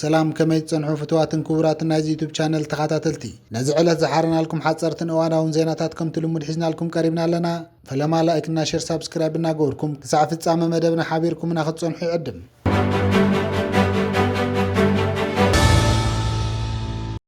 ሰላም ከመይ ትጸንሑ ፍትዋትን ክቡራትን ናይዚ ዩቱብ ቻነል ተኸታተልቲ ነዚ ዕለት ዝሓረናልኩም ሓፀርትን እዋናውን ዜናታት ከምቲ ልሙድ ሒዝናልኩም ቀሪብና ኣለና ፈለማ ላይክና ሸር ሳብስክራይብ እናገበርኩም ክሳዕ ፍጻመ መደብና ሓቢርኩምና ክትጸንሑ ይዕድም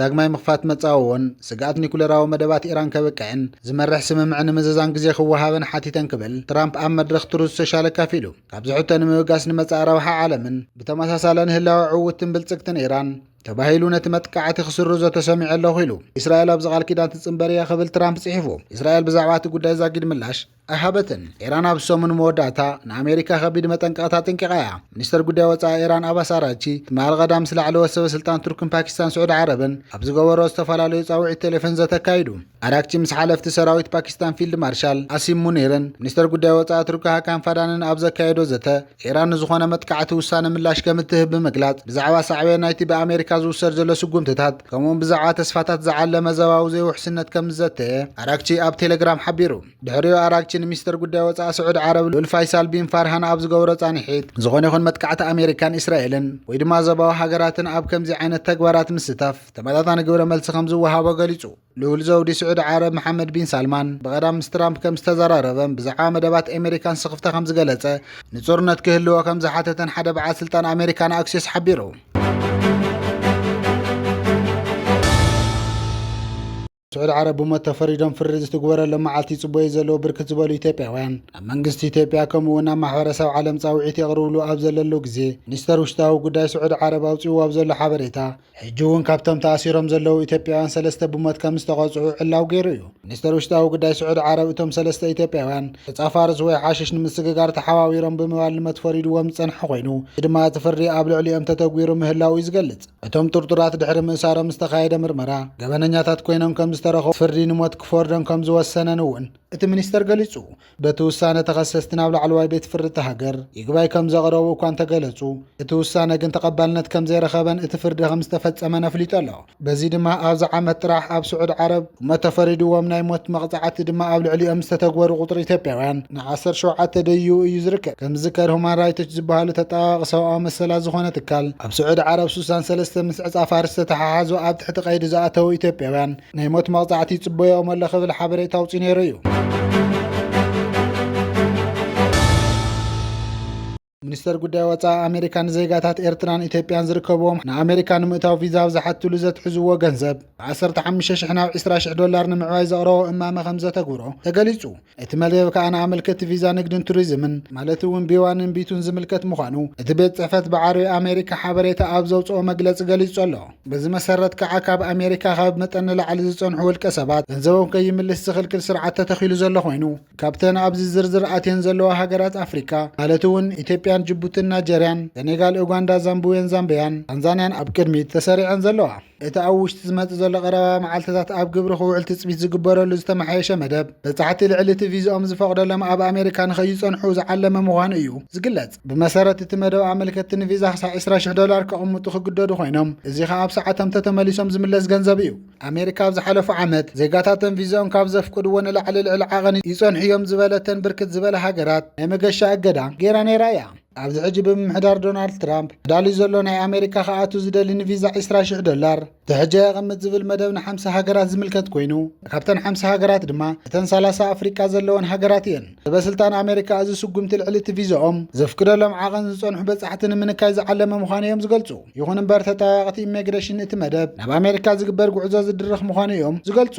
ዳግማይ ምኽፋት መጻወዎን ስግኣት ኒኩለራዊ መደባት ኢራን ከብቅዕን ዝመርሕ ስምምዕ ንምዝዛም ግዜ ክወሃበን ሓቲተን ክብል ትራምፕ ኣብ መድረኽ ትሩዝ ሶሻል ኣካፊሉ። ካብዚ ሕቶ ንምብጋስ ንመጻኢ ረብሓ ዓለምን ብተመሳሳለን ህላወ ዕውትን ብልጽግትን ኢራን ተባሂሉ ነቲ መጥቃዕቲ ክስርዞ ተሰሚዑ ኣለኹ ኢሉ። እስራኤል ኣብዚ ቃል ኪዳን ትጽንበር እያ ክብል ትራምፕ ጽሒፉ። እስራኤል ብዛዕባ እቲ ጉዳይ ዛጊድ ምላሽ ኣይሃበትን። ኢራን ኣብ ሰሙን መወዳእታ ንኣሜሪካ ከቢድ መጠንቀቕታ ኣጠንቂቓ እያ። ሚኒስተር ጉዳይ ወጻኢ ኢራን ኣባስ ኣራቺ ትማሊ ቀዳም ምስ ላዕለዎት ሰበ ስልጣን ቱርክን ፓኪስታን ስዑዲ ዓረብን ኣብ ዝገበሮ ዝተፈላለዩ ጻውዒት ቴሌፎን ዘተ ኣካይዱ። ኣራክቺ ምስ ሓለፍቲ ሰራዊት ፓኪስታን ፊልድ ማርሻል ኣሲም ሙኒርን ሚኒስተር ጉዳይ ወጻኢ ቱርኪ ሃካን ፋዳንን ኣብ ዘካየዶ ዘተ ኢራን ንዝኾነ መጥቃዕቲ ውሳነ ምላሽ ከም እትህብ ብምግላጽ ብዛዕባ ሳዕቤን ናይቲ ብኣሜሪካ ዝውሰድ ዘሎ ስጉምትታት ከምኡውን ብዛዕባ ተስፋታት ዝዓለመ ዘባዊ ዘይውሕስነት ከም ዝዘተየ ኣራግቺ ኣብ ቴሌግራም ሓቢሩ ድሕሪኡ ኣራግቺ ንሚኒስተር ጉዳይ ወፃኢ ስዑድ ዓረብ ሉል ፋይሳል ቢን ፋርሃን ኣብ ዝገበሮ ጻንሒት ዝኾነ ይኹን መጥቃዕቲ ኣሜሪካን እስራኤልን ወይ ድማ ዘባዊ ሃገራትን ኣብ ከምዚ ዓይነት ተግባራት ምስታፍ ተመጣጣኒ ግብረ መልሲ ከም ዝወሃቦ ገሊጹ ልኡል ዘውዲ ስዑዲ ዓረብ መሓመድ ቢን ሳልማን ብቐዳም ምስ ትራምፕ ከም ዝተዘራረበን ብዛዕባ መደባት ኣሜሪካን ስኽፍታ ከም ዝገለጸ ንጹርነት ክህልዎ ከም ዝሓተተን ሓደ በዓል ስልጣን ኣሜሪካን ኣክሲስ ሓቢሩ። ስዑዲ ዓረብ ብሞት ተፈሪዶም ፍሪ ዝትግበረሎም መዓልቲ ይጽበዩ ዘለዉ ብርክት ዝበሉ ኢትዮጵያውያን ኣብ መንግስቲ ኢትዮጵያ ከምኡ እውን ኣብ ማሕበረሰብ ዓለም ጻውዒት የቕርብሉ ኣብ ዘለሉ ግዜ ሚኒስተር ውሽጣዊ ጉዳይ ስዑዲ ዓረብ ኣውፅዎ ኣብ ዘሎ ሓበሬታ ሕጂ እውን ካብቶም ተኣሲሮም ዘለዉ ኢትዮጵያውያን ሰለስተ ብሞት ከም ዝተቐጽዑ ዕላው ገይሩ እዩ። ሚኒስተር ውሽጣዊ ጉዳይ ስዑድ ዓረብ እቶም ሰለስተ ኢትዮጵያውያን ተጻፋርስ ወይ ሓሽሽ ንምስግጋር ተሓባቢሮም ብምባል ንመት ፈሪድዎም ዝጸንሐ ኮይኑ እዚ ድማ እቲ ፍርዲ ኣብ ልዕሊኦም ተተግቢሩ ምህላው እዩ ዝገልጽ። እቶም ጥርጡራት ድሕሪ ምእሳሮም ዝተኻየደ ምርመራ ገበነኛታት ኮይኖም ከም ዝተረኸቡን ፍርዲ ንሞት ክፈርዶም ከም ዝወሰነን እውን እቲ ሚኒስተር ገሊጹ። በቲ ውሳነ ተኸሰስቲ ናብ ላዕለዋይ ቤት ፍርዲ እታ ሃገር ይግባይ ከም ዘቕረቡ እኳ እንተገለጹ፣ እቲ ውሳነ ግን ተቐባልነት ከም ዘይረኸበን እቲ ፍርዲ ከም ዝተፈጸመን ኣፍሊጡ ኣሎ። በዚ ድማ ኣብዚ ዓመት ጥራሕ ኣብ ስዑድ ዓረብ ህሞት ተፈሪድዎም ናይ ሞት መቕጻዕቲ ድማ ኣብ ልዕሊኦም ዝተተግበሩ ቁጽሪ ኢትዮጵያውያን ን ዓሰርተ ሸውዓተ ደይቡ እዩ ዝርከብ። ከም ዝዝከር ሁማን ራይቶች ዝበሃሉ ተጣባባቒ ሰብኣዊ መሰላት ዝኾነ ትካል ኣብ ስዑድ ዓረብ ሱሳን ሰለስተ ምስ ዕጻ ፋርስ ዝተተሓሓዙ ኣብ ትሕቲ ቀይዲ ዝኣተዉ ኢትዮጵያውያን ናይ ሞት መቕጻዕቲ ይጽበዮም ኣሎ ክብል ሓበሬታ ኣውፅኡ ነይሩ እዩ። ሚኒስተር ጉዳይ ወፃኢ ኣሜሪካ ንዜጋታት ኤርትራን ኢትዮጵያን ዝርከብዎም ንኣሜሪካ ንምእታው ቪዛ ኣብ ዝሓትሉ ዘትሕዝዎ ገንዘብ ብ15 ሽሕ ናብ 20 ሽሕ ዶላር ንምዕባይ ዘቕረቦ እማመ ከም ዘተግብሮ ተገሊጹ። እቲ መደብ ከኣ ንኣመልከቲ ቪዛ ንግድን ቱሪዝምን ማለት እውን ቢዋንን ቢቱን ዝምልከት ምዃኑ እቲ ቤት ጽሕፈት ብዓርቢ ኣሜሪካ ሓበሬታ ኣብ ዘውጽኦ መግለጺ ገሊጹ ኣሎ። በዚ መሰረት ከኣ ካብ ኣሜሪካ ካብ መጠን ንላዕሊ ዝጸንሑ ውልቀ ሰባት ገንዘቦም ከይምልስ ዝኽልክል ስርዓት ተተኺሉ ዘሎ ኮይኑ ካብተን ኣብዚ ዝርዝር ኣትየን ዘለዋ ሃገራት ኣፍሪካ ማለት እውን ኢትዮጵያን ጅቡትን ናይጀርያን ሰኔጋል ኡጋንዳ ዛምብዌን ዛምብያን ታንዛንያን ኣብ ቅድሚት ተሰሪዐን ዘለዋ እቲ ኣብ ውሽጢ ዝመጽእ ዘሎ ቀረባ መዓልትታት ኣብ ግብሪ ክውዕል ትጽቢት ዝግበረሉ ዝተመሓየሸ መደብ በጻሕቲ ልዕሊ እቲ ቪዝኦም ዝፈቕደሎም ኣብ ኣሜሪካ ንኸይጸንሑ ዝዓለመ ምዃኑ እዩ ዝግለጽ። ብመሰረት እቲ መደብ ኣመልከትቲ ንቪዛ ክሳዕ 20,000 ዶላር ከቕምጡ ክግደዱ ኾይኖም እዚ ኸኣ ኣብ ሰዓቶም ተተመሊሶም ዝምለስ ገንዘብ እዩ። ኣሜሪካ ኣብ ዝሓለፉ ዓመት ዜጋታተን ቪዝኦም ካብ ዘፍቅድዎ ንላዕሊ ልዕሊ ዓቐን ይጸንሑ እዮም ዝበለተን ብርክት ዝበላ ሃገራት ናይ መገሻ እገዳ ገይራ ነይራ እያ። ኣብዚ ሕጂ ብምምሕዳር ዶናልድ ትራምፕ ተዳልዩ ዘሎ ናይ ኣሜሪካ ክኣቱ ዝደሊ ንቪዛ 20,000 ዶላር ትሕጃ የቐምጥ ዝብል መደብ ንሓምሳ ሃገራት ዝምልከት ኮይኑ ካብተን ሓምሳ ሃገራት ድማ እተን ሰላሳ ኣፍሪቃ ዘለወን ሃገራት እየን። ሰበስልጣን ኣሜሪካ እዚ ስጉምቲ ልዕሊ እቲ ቪዛኦም ዘፍቅደሎም ዓቐን ዝጸንሑ በጻሕቲ ንምንካይ ዝዓለመ ምዃኑ እዮም ዝገልጹ። ይኹን እምበር ተጠዋያቕቲ ኢሚግሬሽን እቲ መደብ ናብ ኣሜሪካ ዝግበር ጉዕዞ ዝድርኽ ምዃኑ እዮም ዝገልጹ።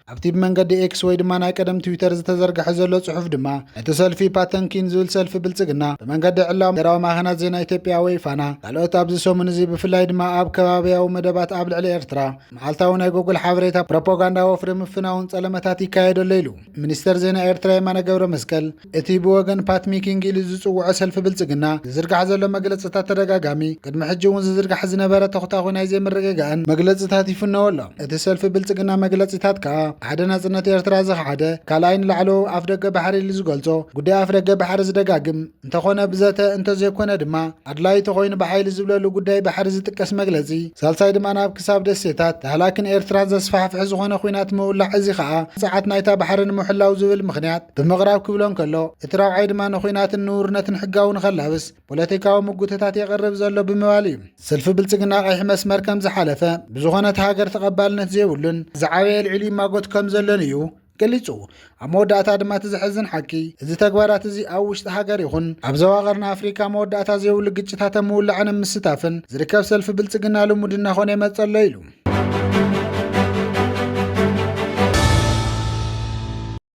ኣብቲ ብመንገዲ ኤክስ ወይ ድማ ናይ ቀደም ትዊተር ዝተዘርግሐ ዘሎ ጽሑፍ ድማ ነቲ ሰልፊ ፓተንኪን ዝብል ሰልፊ ብልጽግና ብመንገዲ ዕላዊ ሃገራዊ ማዕኸናት ዜና ኢትዮጵያ ወይ ፋና ካልኦት ኣብዚ ሰሙን እዚ ብፍላይ ድማ ኣብ ከባቢያዊ መደባት ኣብ ልዕሊ ኤርትራ መዓልታዊ ናይ ጎግል ሓበሬታ ፕሮፓጋንዳ ወፍሪ ምፍናውን ጸለመታት ይካየደሎ ኢሉ ሚኒስተር ዜና ኤርትራ የማነ ገብረ መስቀል እቲ ብወገን ፓት ሚኪንግ ኢሉ ዝጽውዖ ሰልፊ ብልጽግና ዝዝርጋሕ ዘሎ መግለጽታት ተደጋጋሚ፣ ቅድሚ ሕጂ እውን ዝዝርጋሕ ዝነበረ ተኹታዂ ናይ ዘይምርግጋእን መግለጽታት ይፍነዎ ኣሎ። እቲ ሰልፊ ብልጽግና መግለጺታት ከኣ ሓደ ናጽነት ኤርትራ ዝኸሓደ፣ ካልኣይ ንላዕለዎው ኣፍደገ ባሕሪ ኢሉ ዝገልጾ ጉዳይ ኣፍደገ ባሕሪ ዝደጋግም፣ እንተኾነ ብዘተ እንተዘይኮነ ድማ ኣድላዪ ተኾይኑ ብሓይሊ ዝብለሉ ጉዳይ ባሕሪ ዝጥቀስ መግለጺ፣ ሳልሳይ ድማ ናብ ክሳብ ደሴታት ዳህላክን ኤርትራን ዘስፋሕፍሕ ዝኾነ ኲናት ምውላዕ እዚ ከኣ ጸዓት ናይታ ባሕሪ ንምሕላው ዝብል ምኽንያት። ብምቕራብ ክብሎ እንከሎ፣ እቲ ራብዓይ ድማ ንኹናትን ንውርነትን ሕጋዊ ንኸላብስ ፖለቲካዊ ምጉትታት የቕርብ ዘሎ ብምባል እዩ። ሰልፊ ብልጽግና ቀይሕ መስመር ከም ዝሓለፈ፣ ብዝኾነት ሃገር ተቐባልነት ዘይብሉን ዝዓበየ ኣልዒሉ ይማጎት ከም ዘሎን እዩ ገሊጹ። ኣብ መወዳእታ ድማ እቲ ዘሕዝን ሓቂ፣ እዚ ተግባራት እዚ ኣብ ውሽጢ ሃገር ይኹን ኣብ ዞባ ቀርኒ ኣፍሪካ መወዳእታ ዘይብሉ ግጭታት ኣብ ምውላዕን ኣብ ምስታፍን ዝርከብ ሰልፊ ብልጽግና ልሙድ እናኾነ ይመጽእ ኣሎ ኢሉ።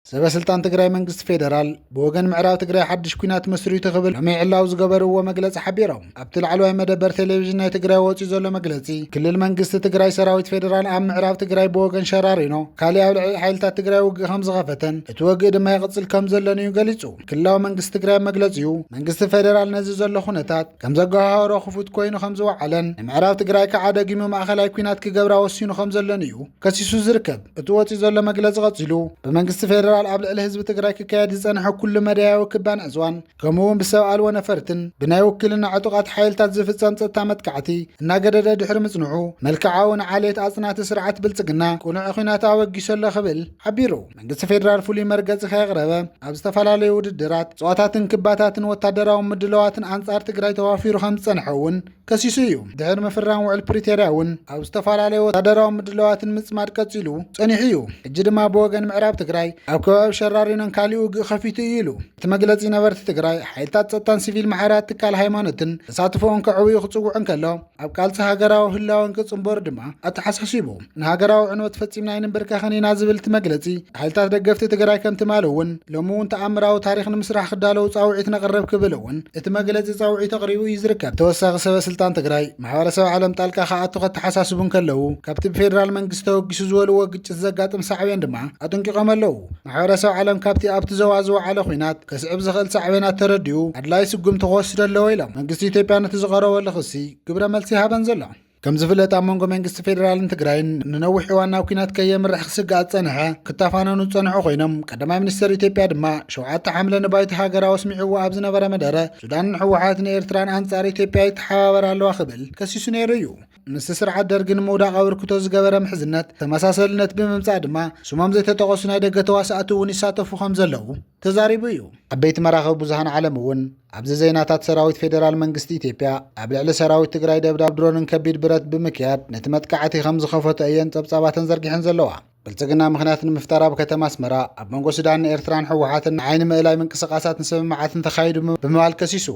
ሰበስልጣን ትግራይ መንግስቲ ፌደራል ብወገን ምዕራብ ትግራይ ሓድሽ ኩናት መስሪቱ ክብል ሎሚ ዕላው ዝገበርዎ መግለፂ ሓቢሮም ኣብቲ ላዕለዋይ መደበር ቴሌቭዥን ናይ ትግራይ ወፂኡ ዘሎ መግለፂ ክልል መንግስቲ ትግራይ ሰራዊት ፌደራል ኣብ ምዕራብ ትግራይ ብወገን ሸራሪኖ ካሊእ ኣብ ልዕሊ ሓይልታት ትግራይ ውግእ ከም ዝኸፈተን እቲ ወግእ ድማ ይቕፅል ከም ዘሎን እዩ ገሊፁ ክልላዊ መንግስቲ ትግራይ መግለፂኡ መንግስቲ ፌደራል ነዚ ዘሎ ኩነታት ከም ዘጓሃሃሮ ክፉት ኮይኑ ከም ዝወዓለን ንምዕራብ ትግራይ ከዓ ደጊሙ ማእኸላይ ኩናት ክገብራ ወሲኑ ከም ዘሎን እዩ ከሲሱ ዝርከብ እቲ ወፂኡ ዘሎ መግለፂ ቀፂሉ ብመንግስቲ ፌዴራል ኣብ ልዕሊ ህዝቢ ትግራይ ክካየድ ዝፀንሐ ኩሉ መዳያዊ ክባን ዕፅዋን ከምኡ እውን ብሰብ ኣልቦ ነፈርትን ብናይ ውክልና ዕጡቓት ሓይልታት ዝፍፀም ፀጥታ መጥቃዕቲ እናገደደ ድሕሪ ምፅንሑ መልክዓዊ ንዓሌት ኣፅናቲ ስርዓት ብልፅግና ቅኑዕ ኩናት ኣበጊሶ ኣሎ ክብል ሓቢሩ መንግስቲ ፌዴራል ፍሉይ መርገፂ ከየቕረበ ኣብ ዝተፈላለዩ ውድድራት ፀዋታትን ክባታትን ወታደራዊ ምድለዋትን ኣንፃር ትግራይ ተዋፊሩ ከም ዝፀንሐ እውን ከሲሱ እዩ። ድሕሪ ምፍራም ውዕል ፕሪቶርያ እውን ኣብ ዝተፈላለዩ ወታደራዊ ምድላዋትን ምፅማድ ቀፂሉ ፀኒሑ እዩ። ሕጂ ድማ ብወገን ምዕራብ ትግራይ ኣብ ከባቢ ሸራሪኖን ካሊእ ውግእ ከፊቱ እዩ ኢሉ። እቲ መግለፂ ነበርቲ ትግራይ ሓይልታት ፀጥታን ሲቪል ማሕበራት ትካል ሃይማኖትን ተሳትፎኦም ከዕብዩ ክፅውዕ እንከሎ ኣብ ቃልሲ ሃገራዊ ህላወን ክፅምበሩ ድማ ኣተሓሳሲቡ። ንሃገራዊ ዕንወት ፈጺምና ኣይንምብርከኽን ኢና ዝብል እቲ መግለጺ፣ ሓይልታት ደገፍቲ ትግራይ ከም ትማሊ እውን ሎሚ እውን ተኣምራዊ ታሪኽ ንምስራሕ ክዳለዉ ጻውዒት ነቕርብ ክብል እውን እቲ መግለጺ ጻውዒት ኣቕሪቡ እዩ ዝርከብ። ተወሳኺ ሰበ ስልጣን ትግራይ፣ ማሕበረሰብ ዓለም ጣልቃ ክኣቱ ከተሓሳስቡ እንከለዉ፣ ካብቲ ብፌደራል መንግስቲ ተወጊሱ ዝበልዎ ግጭት ዘጋጥም ሳዕቤን ድማ ኣጠንቂቖም ኣለዉ። ማሕበረሰብ ዓለም ካብቲ ኣብቲ ዞባ ዝወዓለ ኲናት ከስዕብ ዝኽእል ሳዕቤናት ተረዲኡ ኣድላዪ ስጉምቲ ክወስድ ኣለዎ ኢሎም። መንግስቲ ኢትዮጵያ ነቲ ዝቐረበሉ ክሲ ግብረ መልሲ ኣይሃበን ዘሎ። ከም ዝፍለጥ ኣብ መንጎ መንግስቲ ፌዴራልን ትግራይን ንነዊሕ እዋን ናብ ኩናት ከየምርሕ ክስጋእ ዝፀንሐ ክተፋነኑ ዝፀንሑ ኮይኖም ቀዳማይ ሚኒስትር ኢትዮጵያ ድማ ሸውዓተ ሓምለ ንባይቶ ሃገራዊ ኣስሚዕዎ ኣብ ዝነበረ መደረ ሱዳንን ህወሓትን ኤርትራን ኣንጻር ኢትዮጵያ ይተሓባበር ኣለዋ ክብል ከሲሱ ነይሩ እዩ ምስ ስርዓት ደርጊ ንምውዳቕ ኣበርክቶ ዝገበረ ምሕዝነት ተመሳሰልነት ብምምፃእ ድማ ስሞም ዘይተጠቐሱ ናይ ደገ ተዋሳእቲ እውን ይሳተፉ ከም ዘለዉ ተዛሪቡ እዩ ዓበይቲ መራኸቢ ብዙሃን ዓለም እውን ኣብዚ ዜናታት ሰራዊት ፌዴራል መንግስቲ ኢትዮጵያ ኣብ ልዕሊ ሰራዊት ትግራይ ደብዳብ ድሮንን ከቢድ ብረት ብምክያድ ነቲ መጥቃዕቲ ከም ዝኸፈቶ እየን ጸብጻባተን ዘርጊሐን ዘለዋ። ብልጽግና ምኽንያት ንምፍጣር ኣብ ከተማ ኣስመራ ኣብ መንጎ ሱዳንን ኤርትራን ሕወሓትን ንዓይኒ ምእላይ ምንቅስቓሳትን ስምምዓትን ተኻይዱ ብምባል ከሲሱ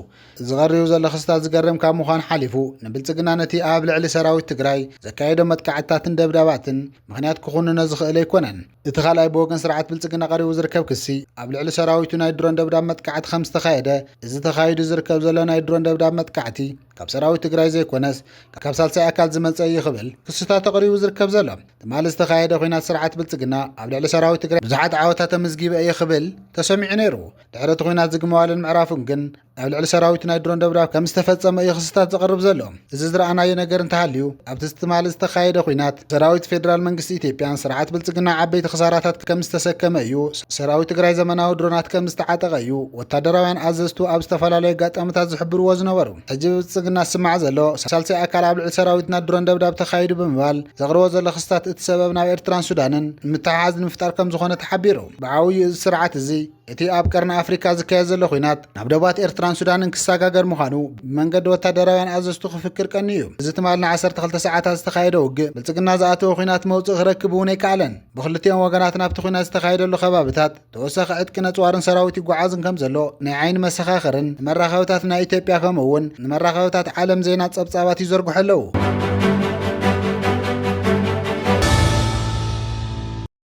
እዚ ቀሪቡ ዘሎ ክስታት ዝገርም ካብ ምዃን ሓሊፉ ንብልጽግና ነቲ ኣብ ልዕሊ ሰራዊት ትግራይ ዘካየዶ መጥቃዕትታትን ደብዳባትን ምኽንያት ክኹንኖ ዝኽእል ኣይኮነን እቲ ካልኣይ ብወገን ስርዓት ብልፅግና ቀሪቡ ዝርከብ ክሲ ኣብ ልዕሊ ሰራዊቱ ናይ ድሮን ደብዳብ መጥቃዕቲ ከም ዝተኻየደ እዚ ተኻይዱ ዝርከብ ዘሎ ናይ ድሮን ደብዳብ መጥቃዕቲ ካብ ሰራዊት ትግራይ ዘይኮነስ ካብ ሳልሳይ ኣካል ዝመፀ እዩ ክብል ክስታቱ ቀሪቡ ዝርከብ ዘሎ ትማሊ ዝተኻየደ ኩናት ስርዓት ብልፅግና ኣብ ልዕሊ ሰራዊት ትግራይ ብዙሓት ዓወታት ተመዝጊበ እየ ክብል ተሰሚዑ ነይሩ ድሕሪ እቲ ኩናት ዝግመዋልን ምዕራፉን ግን ኣብ ልዕሊ ሰራዊት ናይ ድሮን ደብዳብ ከም ዝተፈጸመ እዩ ክስታት ዘቕርብ ዘሎ። እዚ ዝረኣናዮ ነገር እንተሃልዩ ኣብቲ ትማሊ ዝተኻየደ ኩናት ሰራዊት ፌዴራል መንግስቲ ኢትዮጵያን ስርዓት ብልጽግና ዓበይቲ ክሳራታት ከም ዝተሰከመ እዩ። ሰራዊት ትግራይ ዘመናዊ ድሮናት ከም ዝተዓጠቐ እዩ ወታደራውያን ኣዘዝቱ ኣብ ዝተፈላለዩ ኣጋጣሚታት ዝሕብርዎ ዝነበሩ። ሕጂ ብብልጽግና ዝስማዕ ዘሎ ሳልሳይ ኣካል ኣብ ልዕሊ ሰራዊትና ድሮን ደብዳብ ተኻይዱ ብምባል ዘቕርቦ ዘሎ ክስታት እቲ ሰበብ ናብ ኤርትራን ሱዳንን ምትሕሓዝ ንምፍጣር ከም ዝኾነ ተሓቢሩ። ብዓብዩ እዚ ስርዓት እዚ እቲ ኣብ ቀርኒ ኣፍሪካ ዝካየድ ዘሎ ኩናት ናብ ደባት ኤርትራን ሱዳንን ክሰጋገር ምዃኑ ብመንገዲ ወታደራውያን ኣዘዝቱ ክፍክር ቀኒ እዩ እዚ ትማል ን12 ሰዓታት ዝተኻየደ ውግእ ብልፅግና ዝኣተወ ኩናት መውፅእ ክረክብ እውን ኣይከኣለን ብክልቲኦም ወገናት ናብቲ ኩናት ዝተኻየደሉ ከባብታት ተወሳኺ ዕጥቂ ነፅዋርን ሰራዊት ይጓዓዝን ከም ዘሎ ናይ ዓይኒ መሰኻኽርን ንመራኸብታት ናይ ኢትዮጵያ ከምኡ እውን ንመራኸብታት ዓለም ዜና ፀብፃባት ይዘርግሑ ኣለዉ